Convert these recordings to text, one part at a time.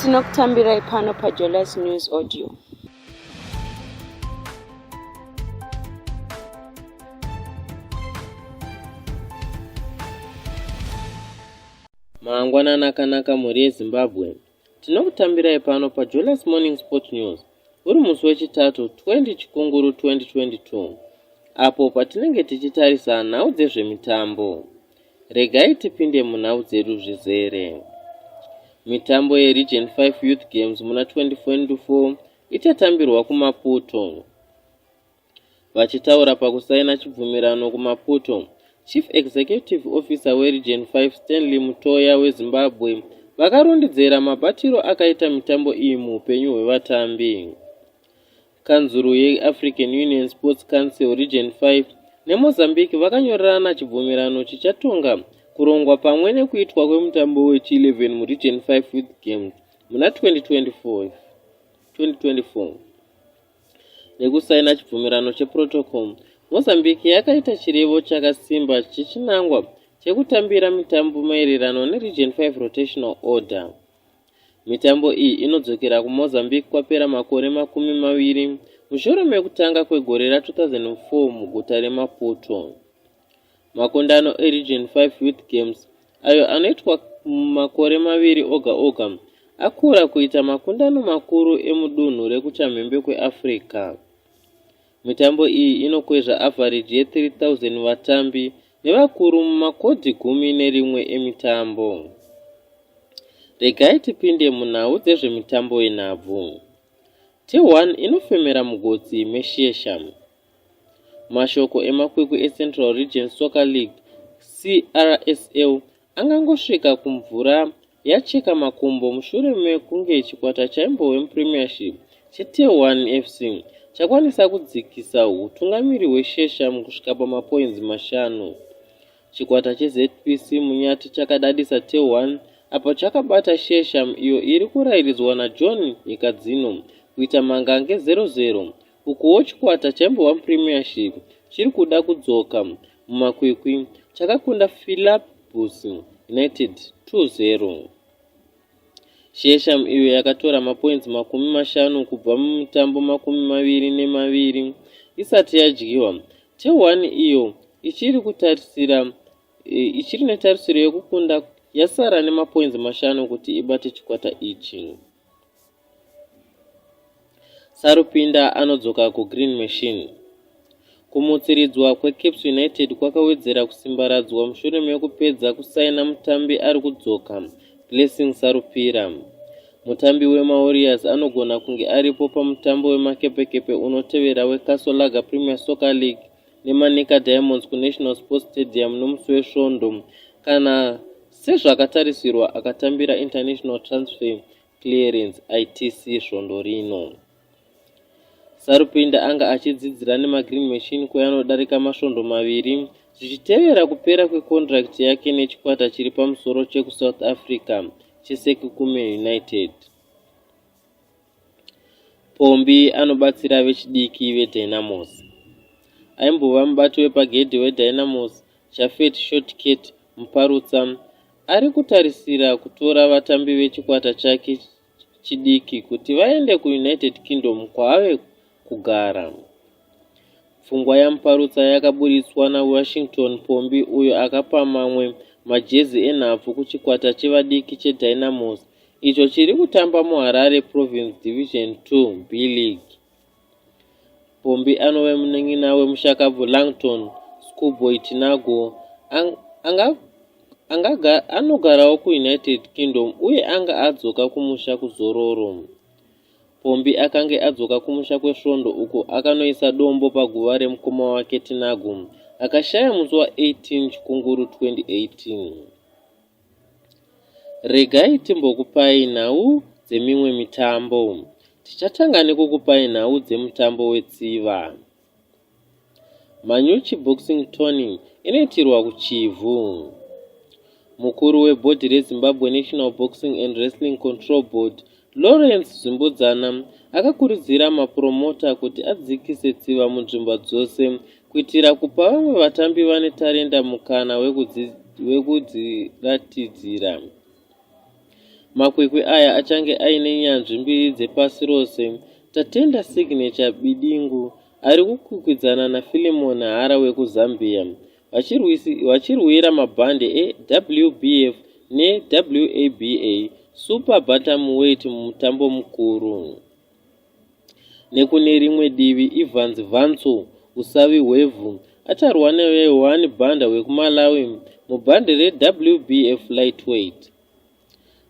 tinokutambirai pano pajolas news audio mangwanani akanaka mhuri yezimbabwe Tinokutambirai pano paJolas Morning Sport News uri musi weChitatu 20 Chikunguru 2022 apo patinenge tichitarisa nhau dzezvemitambo. Regai tipinde munhau dzedu zvizere. Mitambo yeRegion 5 Youth Games muna 2024 ichatambirwa kuMaputo. Vachitaura pakusaina chibvumirano kuMaputo, Chief Executive Officer weRegion 5 Stanley Mutoya weZimbabwe vakarondedzera mabatiro akaita mitambo iyi muupenyu hwevatambi. Kanzuru yeAfrican Union Sports Council Region 5 neMozambique vakanyorerana chibvumirano chichatonga kurongwa pamwe nekuitwa kwemutambo wechi11 muRegion 5 Youth Games muna 2024. nekusaina chibvumirano cheprotocol mozambique yakaita chirevo chakasimba chechinangwa chekutambira mitambo maererano neregion 5 rotational order mitambo iyi inodzokera kumozambique kwapera makore makumi maviri mushure mekutanga kwegore ra 2004 muguta remaputo Makundano eRegion 5 Youth Games, ayo anoitwa mumakore maviri oga oga, akura kuita makundano makuru emudunhu rekuchamhembe kweAfrica. Mitambo iyi inokwezva avhareji ye-3000 vatambi nevakuru mumakodhi gumi nerimwe emitambo. Regai tipinde munhau dzezvemitambo yenhabvu. T1 inofemera mugotsi meshesha. Mashoko emakwikwi eCentral Region Soccer League, CRSL, angangosvika kumvura yacheka makumbo mushure mekunge chikwata chaimbove muPremiership cheTehuan FC chakwanisa kudzikisa hutungamiri hweShesha mukusvika pamapoinzi mashanu. Chikwata cheZPC Munyati chakadadisa Tehuan apo chakabata Shesha iyo iri kurairidzwa naJohn Nyikadzino kuita mangange 0-0 Ukuwo chikwata chaimbova muPremiership chiri kuda kudzoka mumakwikwi chakakunda Philabus United 2-0. Shesham iyo yakatora mapoinzi makumi mashanu kubva mumitambo makumi maviri nemaviri isati yadyiwa, Tehwan iyo ichiri kutarisira e, ichiri netarisiro yekukunda yasara nemapoinzi mashanu kuti ibate chikwata ichi. Sarupinda anodzoka kuGreen Machine. Kumutsiridzwa kweCaps United kwakawedzera kusimbaradzwa mushure mekupedza kusaina mutambi ari kudzoka, Blessing Sarupira. Mutambi wemaWarriors anogona kunge aripo pamutambo wemakepekepe unotevera weCastle Lager Premier Soccer League neManica Diamonds kuNational Sports Stadium nomusi weSvondo kana sezvakatarisirwa akatambira international transfer Clearance, ITC, svondo rino. Sarupinda anga achidzidzira nemaGreen Machine kweanodarika masvondo maviri zvichitevera kupera kwekondirakiti yake nechikwata chiri pamusoro chekuSouth Africa cheSekukume United. Pombi anobatsira vechidiki veDynamos. Aimbova mubati wepagedhi weDynamos, Jafet Shortcat Muparutsa ari kutarisira kutora vatambi vechikwata chake chidiki kuti vaende kuUnited Kingdom kwaave kugara. Pfungwa yaMuparutsa yakaburitswa naWashington Pombi uyo akapa mamwe majezi enhabvu kuchikwata chevadiki cheDynamos icho chiri kutamba muHarare Province Division 2 B League. Pombi anove munin'ina wemushakabvu Langton, Schoolboy Tinago, ang, anga, anga, anogarawo kuUnited Kingdom uye anga adzoka kumusha kuzororo. Pombi akange adzoka kumusha kwesvondo uko akanoisa dombo paguva remukoma wake Tinago, akashaya musi wa 18 Chikunguru 2018. Regai timbokupai nhau dzemimwe mitambo. Tichatanga nekukupai nhau dzemutambo wetsiva. Manyuchi Boxing Tourney inoitirwa kuChivhu. Mukuru webhodhi reZimbabwe National Boxing and Wrestling Control Board, Lawrence Zvimbudzana akakurudzira mapuromota kuti adzikise tsiva munzvimbo dzose kuitira kupa vamwe vatambi vane tarenda mukana wekudziratidzira. Makwikwi aya achange aine nyanzvi mbiri dzepasi rose, Tatenda Signature Bidingu ari kukwikwidzana naFilimon Hara wekuZambia vachirwira mabhande eWBF neWABA Super Bantamweight mumutambo mukuru. Nekune rimwe divi Evans Vantso usavi hwevhu acharwa neYohani Banda wekuMalawi mubhande reWBF Lightweight.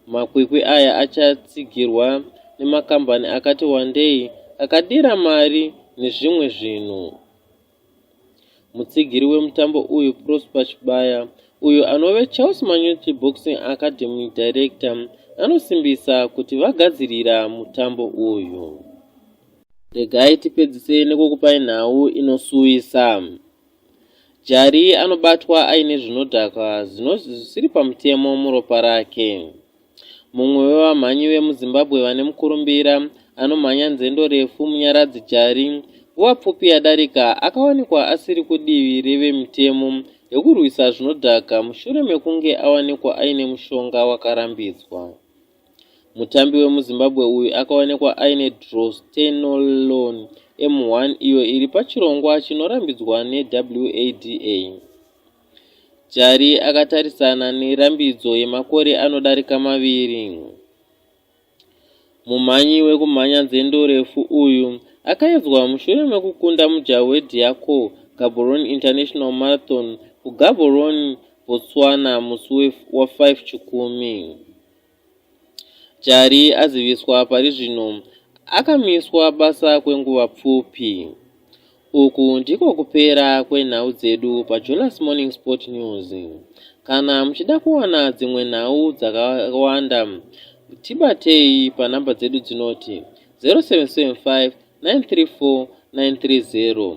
Makwikwi aya achatsigirwa nemakambani akati wandei akadira mari nezvimwe zvinhu. Mutsigiri wemutambo uyu Prosper Chibaya, uyo anove Charles Manyuchi Boxing Academy Director, anosimbisa kuti vagadzirira mutambo uyu. Regai tipedzise nekukupai nhau inosuwisa. Jari anobatwa aine zvinodhaka zvisiri pamutemo muropa rake. Mumwe wevamhanyi vemuZimbabwe vane mukurumbira anomhanya nzendo refu Munyaradzi Jari nguva pfupi yadarika akawanikwa asiri kudivi revemitemo rekurwisa zvinodhaka mushure mekunge awanikwa aine mushonga wakarambidzwa. Mutambi wemuZimbabwe uyu akawanikwa aine drostenolon M1 iyo iri pachirongwa chinorambidzwa neWADA. Jali akatarisana nerambidzo yemakore anodarika maviri. Mumhanyi wekumhanya nzendo refu uyu akaedzwa mushure mekukunda mujaho weDiaco Gaborone International Marathon kuGaborone, Botswana musi wa5 Chikumi. Chari aziviswa pari zvino akamiswa basa kwenguva pfupi. Uku ndiko kupera kwenhau dzedu paJonas Morning Sport News. Kana muchida kuwana dzimwe nhau dzakawanda, tibatei panhamba dzedu dzinoti 0775 934 930.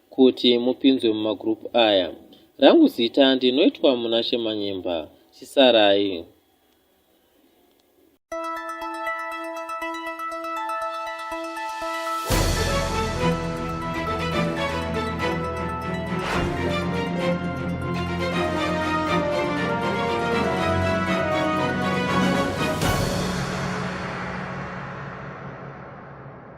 kuti mupinzwe mumagroup aya rangu zita ndinoitwa muna shemanyemba chisarai